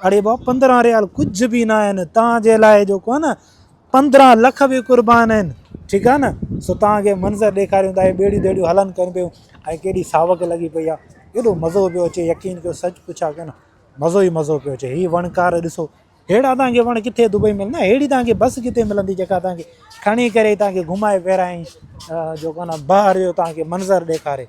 اڙي بابا پندرهن ريال ڪجهه به نه آهن تان جي لاء جو ڪو نه پندرهن لک به قربان آهن ٺيڪ آهي نه سو تان کي منظر ڏيکاريون ته هي ٻيڙيون ٻيڙيون هلن ڪن پيون ۽ ڪيڏي ساوڪ لڳي پئي آهي ايڏو مزو پيو اچي يقين ڪيو سچ پڇ آ ڪن مزو ئي مزو پيو اچي هي وڻڪار ڏسو هيڙا تان کي وڻ ڪٿي دبئي مل نه هيڙي تان کي بس ڪٿي ملندي جيڪا تان کي کڻي ڪري تان کي گهمائي پيرائي جو ڪو نه بهر جو تان کي منظر ڏيکاري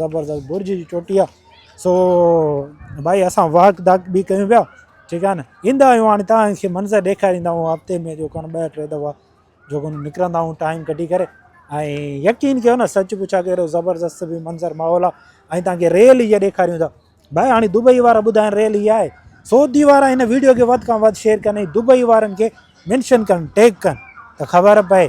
زبردست برج جي چوٽي آ سو ڀائي اسان واڪ داڪ به ڪيون پيا ٺيڪ آ نه ايندا آيون هاڻي تان کي منظر ڏيکاريندا آهيون هفتي ۾ جو ڪن ٻه ٽي دفعا جو ڪن نڪرندا آهيون ٽائيم ڪڍي ڪري ۽ يقين ڪيو نه سچ پڇا ڪي اهڙو زبردست به منظر ماحول آ ۽ تان کي ريل هي ڏيکاريون ٿا ڀائي هاڻي دبئي وارا ٻڌائن ريل هي آهي سعودي وارا هن ويڊيو کي وڌ کان وڌ شيئر ڪن ۽ دبئي وارن کي منشن ڪن ٽيگ ڪن ته خبر پئي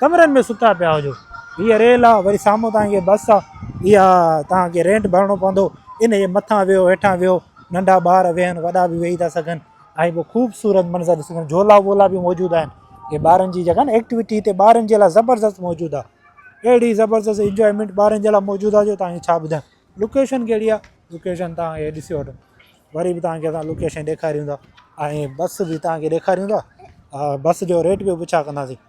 ڪمرن ۾ ستا پيا هجو هيء ريل آ وري سامهون توهان کي بس آ اها توهان کي رينٽ ڀرڻو پوندو ان جي مٿان ويهو هيٺان ويهو ننڍا ٻار ويهن وڏا به ويهي ٿا سگهن ۽ پوء خوبصورت منظر ڏسي سگهن جهولا وولا به موجود آهن هي ٻارن جي جيڪا ايڪٽيوٽي هتي ٻارن جي لاء زبردست موجود آ اهڙي زبردست انجوائمينٽ ٻارن جي لاء موجود آ جو توهان کي ڇا ٻڌايان لوڪيشن ڪهڙي آ لوڪيشن توهان هي ڏسي وٺو وري به توهان کي اسان لوڪيشن ڏيکاريون ٿا ۽ بس به توهان کي ڏيکاريون ٿا بس جو ريٽ به پڇا ڪنداسين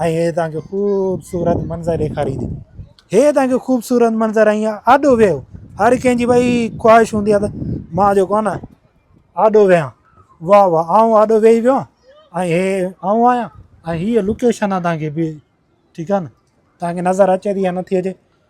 ۽ هيء توهان کي خوبصورت منظر ڏيکاريندي. هيء توهان کي خوبصورت منظر ۽ آڏو ويهو. هر ڪنهن جي ڀئي خواهش هوندي آهي ته مان جيڪو آهي نه آڏو ويهان. واهه واهه آئون آڏو ويهي ويو آهيان ۽ هيء آئون آهيان ۽ هيء لوڪيشن آهي توهان کي ٺيڪ آهي نه توهان کي نظر اچي ٿي يا نٿي اچي